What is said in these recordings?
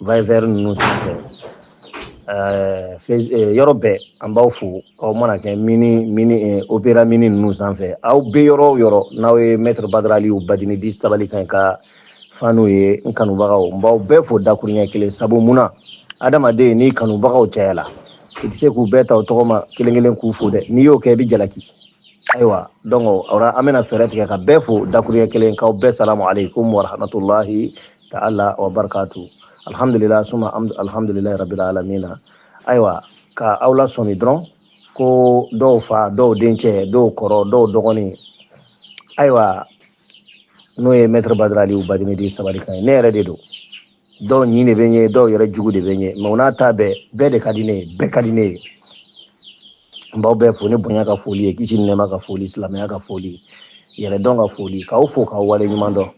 Viber ninnu sanfɛ yɔrɔ bɛɛ an b'aw fo aw mana kɛ mini mini opéra mini ninnu sanfɛ aw bɛ yɔrɔ o yɔrɔ n'aw ye maître Badra Aliou Badini dit sabali kan ka fanw ye n kanubagaw n b'aw bɛɛ fo dakuruɲɛ kelen sabu munna adamaden ni kanubagaw cayala i tɛ se k'u bɛɛ ta o tɔgɔ ma kelen kelen k'u fo dɛ n'i y'o kɛ i bɛ jalaki ayiwa donc o la an bɛna fɛɛrɛ tigɛ ka bɛɛ fo dakuruɲɛ kelen k'aw bɛɛ salamu aleykum warahmatulahi ta'ala wa barakatu alhamdulillah suma alhamdulillah rabbil alamin ayiwa ka aw lasɔmi dɔrɔn ko dɔw fa dɔw dencɛ dɔw kɔrɔ dɔw dɔgɔnin ayiwa n'o ye maître Badra Aliou Badini dit sabali kan ye ne yɛrɛ de don dɔw ɲin de bɛ n ye dɔw yɛrɛ jugu de bɛ n ye mais o n'a ta bɛɛ bɛɛ de ka di ne ye bɛɛ ka di ne ye n b'aw bɛɛ fo ni bonya ka foli ye kisi ni nɛɛma ka foli silamɛya ka foli yɛrɛdɔn ka foli k'aw fo k'aw wale ɲuman dɔn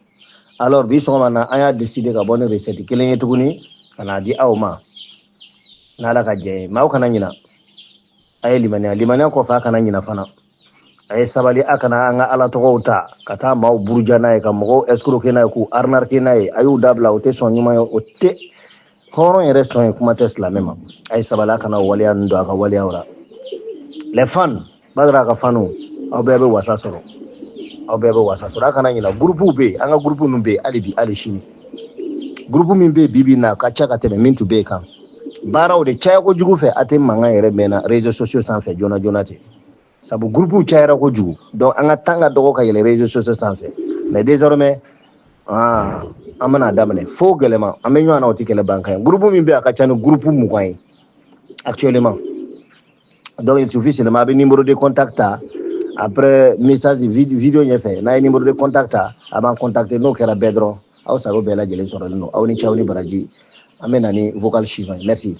alors bi sɔgɔma na an y'a décider ka bɔ ni recette kelen ye tuguni ka n'a di aw ma n'ala ka jɛn ye mais aw kana ɲina a ye limaniya limaniya kɔfɛ a kana ɲina fana a ye sabali a kana an ka ala tɔgɔw ta ka taa maaw buruja n'a ye ka mɔgɔw escroquer n'a ye k'u arnaquer n'a ye a y'u dabila o tɛ sɔn ɲuman ye o tɛ hɔrɔn yɛrɛ sɔn ye kuma tɛ silamɛ ma a ye sabali a kana waleya ninnu don a ka waleyaw la les fans Badra ka fanw aw bɛɛ bɛ wasa sɔrɔ aw bɛɛ bɛ wasa sɔrɔ a kana ɲina gurupuw bɛ yen an ka gurupu ninnu bɛ yen hali bi hali sini gurupu min bɛ yen bi bi in na a ka ca ka tɛmɛ min tun bɛ yen kan baaraw de caya kojugu fɛ a tɛ mankan yɛrɛ mɛn na réseaux sociaux sanfɛ joona joona ten sabu gurupuw cayara kojugu donc an ka temps ka dɔgɔ ka yɛlɛ réseaux sociaux sanfɛ mais désormais ah, an bɛna daminɛ fo gɛlɛma an bɛ ɲɔgɔn na o tɛ kɛlɛ ban kan ye gurupu min bɛ yen a ka ca ni gurupu mugan ye actuellement donc il suffit seulement a bɛ numéro de contact ta après message vid- vidéo ɲɛfɛ n'a ye numéro de contact ta a b'an contacter n'o kɛra bɛɛ dɔrɔn aw sago bɛɛ lajɛlen sɔrɔlen don aw ni ce aw ni baraji an bɛ na ni vocal suivant ye merci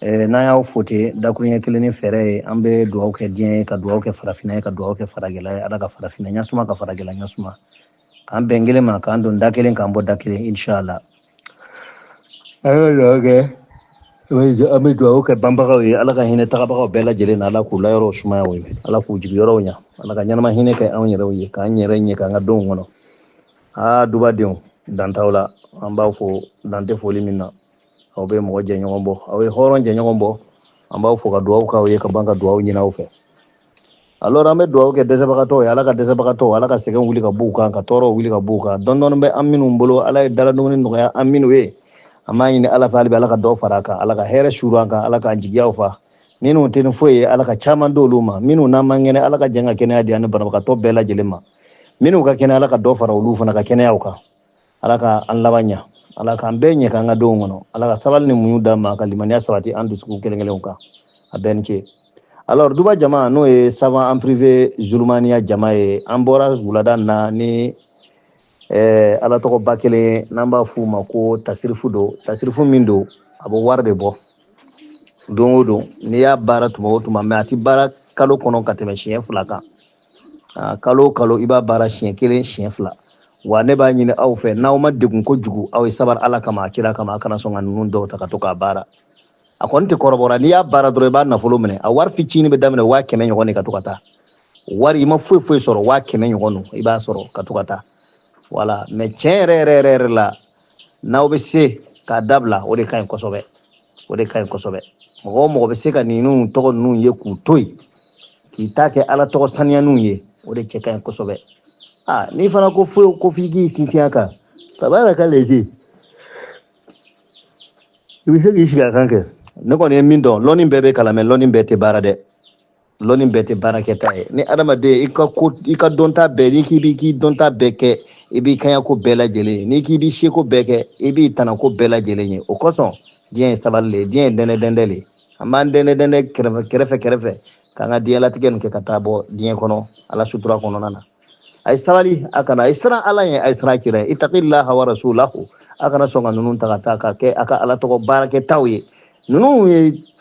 Eh, n'an y'aw fo ten dakuruɲɛ kelen ni fɛɛrɛ ye an bɛ dugawu kɛ diɲɛ ye ka dugawu kɛ farafinna ye ka dugawu kɛ farajɛla ye ala ka farafinna ɲasuma ka farajɛla ɲasuma k'an bɛn kelen ma k'an don da kelen k'an bɔ da kelen inshallah an bɛ dugawu kɛ an bɛ dugawu kɛ banbagaw ye ala ka hinɛ tagabagaw bɛɛ lajɛlen na ala k'u layɔrɔw sumaya u ye ala k'u jigiyɔrɔw ɲa ala ka ɲɛnama hinɛ kɛ anw yɛrɛw ye k'an yɛrɛ ɲɛ k'an ka denw kɔnɔ aa dubadenw dan t'aw la an b'aw fo dan tɛ foli min na aw bɛ mɔgɔ jɛɲɔgɔn bɔ aw ye hɔrɔn jɛɲɔgɔn bɔ an b'aw fo ka dugawu k'aw ye ka ban ka dugawu ɲini aw fɛ alors an bɛ dugawu kɛ dɛsɛbagatɔw ye ala ka dɛsɛbagatɔw ala ka sɛgɛn wuli ka b'u kan ka tɔɔrɔw wuli ka b'u kan dɔɔni dɔɔni bɛ an minnu bolo ala ye daladumuni nɔgɔya an minnu ye an b'a ɲini ala fɛ hali bi ala ka dɔ fara a kan ala ka hɛrɛ suuru an kan ala k'an jigiyaw fa minnu tɛ ni foyi ye ala ka caman d'olu ma minnu n'an man kɛnɛ ala ka jɛn ka kɛnɛya di an ni banabagatɔ bɛɛ lajɛlen ma minnu ka kɛnɛ ala ka dɔ fara olu fana ka kɛnɛyaw kan ala ka an laban ɲa ala k'an bɛɛ ɲɛ k'an ka denw kɔnɔ ala ka sabali ni muɲu d'an ma ka limaniya sabati an dusukun kelen kelenw kan a bɛɛ ni ce alors duba jama n'o ye saban en privé zulumaniya jama ye an bɔra wulada na ni eh, ala tɔgɔba kelen n'an b'a f'u ma ko tasirifu don tasirifu min don a bɛ wari de bɔ don o don n'i y'a baara tuma o tuma mais a tɛ baara kalo kɔnɔ ka tɛmɛ siɲɛ fila kan kalo o kalo i b'a baara siɲɛ kelen siɲɛ fila wa ne b'a ɲini aw fɛ n'aw ma degun kojugu aw ye sabari ala kama a kira kama a kana sɔn ka ninnu dɔw ta ka to k'a baara a kɔni tɛ kɔrɔbɔra n'i y'a baara dɔrɔn i b'a nafolo minɛ a wari fitinin bɛ daminɛ waa kɛmɛ ɲɔgɔn de ka to ka taa wari i ma foyi foyi sɔrɔ waa kɛmɛ ɲɔgɔn don i b'a sɔrɔ ka to ka taa voilà mais tiɲɛ yɛrɛ yɛrɛ yɛrɛ yɛrɛ la n'aw bɛ se k'a dabila o de ka ɲi kosɛbɛ o de ka ɲi kosɛbɛ mɔgɔ o mɔgɔ bɛ se ka ninnu tɔgɔ ninnu ye k'u to yen k'i ta kɛ ala tɔgɔ saniyaninw ye o de cɛ ka ɲi kosɛbɛ a n'i fana ko foyi ko f'i k'i sinsin a kan baba yɛrɛ ka lezi i bɛ se k'i sigi a kan kɛ ne kɔni ye min dɔn lɔnni bɛɛ bɛ kalan mais lɔnni bɛɛ tɛ baara dɛ lɔnni bɛɛ tɛ baarakɛta ye ni adamaden i ka ko i ka dɔnta bɛɛ n'i k'i b'i k'i dɔnta bɛɛ kɛ i b'i kaɲako bɛɛ lajɛlen ye n'i k'i b'i seko bɛɛ kɛ i b'i tanako bɛɛ lajɛlen ye o kosɔn diɲɛ ye sabali le diɲɛ ye dɛndɛdɛndɛ le an b'an dɛndɛdɛndɛ kɛrɛfɛ kɛrɛfɛ kɛrɛfɛ k'an ka diɲɛlatigɛ nin kɛ ka taa bɔ diɲɛ kɔnɔ ala sutura kɔnɔna na a ye sabali a kana a ye siran ala ye a ye siran kira ye itaqillaha wa rasulahu a kana sɔn ka ninnu ta ka taa ka kɛ a ka ala tɔgɔ baarakɛtaw ye ninnu ye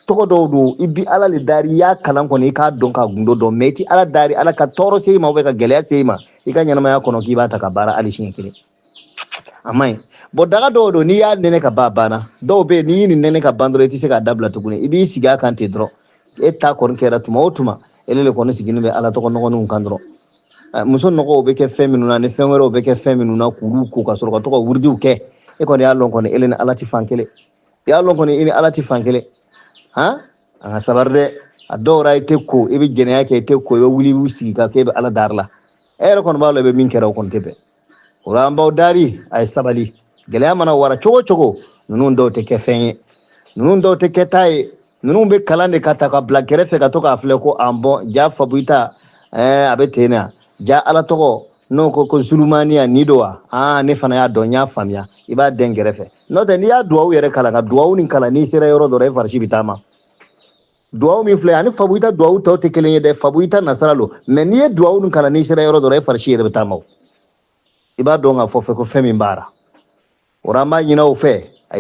tɔgɔ dɔw don i bi ala le dari i y'a kalan kɔni i k'a dɔn ka gundo dɔn mais i ti ala dari ala ka tɔɔrɔ se i ma ka gɛlɛya se i ma i ka ɲɛnamaya kɔnɔ k'i b'a ta ka baara hali siɲɛ kelen a man ɲi bon daga dɔw don n'i y'a nɛnɛ ka ban banna dɔw bɛ yen n'i ye nin nɛnɛ ka ban dɔrɔn i tɛ se k'a dabila tuguni i b'i sigi a kan ten dɔrɔn e ta kɔni kɛra tuma o tuma ele le kɔni sigilen bɛ ala tɔgɔ nɔgɔninw kan dɔrɔn eh, muso nɔgɔw bɛ kɛ fɛn minnu na ni fɛn wɛrɛw bɛ kɛ fɛn minnu na k'olu ko ka sɔrɔ ka to ka wuridiw kɛ e kɔni y'a lɔn kɔni ele ni ala tɛ fan kelen i y'a lɔn kɔni i ni ala tɛ fan kelen han an ka sabari dɛ a dɔw ra i tɛ ko i bɛ jɛnɛya kɛ i tɛ ko i bɛ wuli i b'i sigi ka kɛ i bɛ ala dari la e yɛrɛ kɔni b'a lɔn i bɛ min kɛ ra o kɔni tɛ bɛn o la an b'aw dari a ye sabali gɛlɛya mana wara cogo o cogo ninnu dɔw tɛ kɛfɛn ye ninnu dɔw tɛ kɛta ye ninnu bɛ kalan de ka ta ka bila kɛrɛfɛ ka to k'a filɛ ko ah bon ja fabuyita eh, a bɛ ten na ja ala tɔgɔ n'o ko ko zulumaniya nin don wa aa ne fana y'a dɔn n y'a faamuya i b'a dɛn kɛrɛfɛ n'o tɛ n'i y'a duwawu yɛrɛ kalan ka duwawu nin kalan n'i sera yɔrɔ dɔ la i farisi bɛ taama duwawu min filɛ ani fabuyita duwawu tɔw tɛ kelen ye dɛ fabuyita nasara lo mais n'i ye duwawu nin kalan n'i sera yɔrɔ dɔ la e farisi yɛrɛ bɛ taama i b'a dɔn k'a fɔ fɛ ko fɛn min b'a ra o ra an b'a ɲin'aw fɛ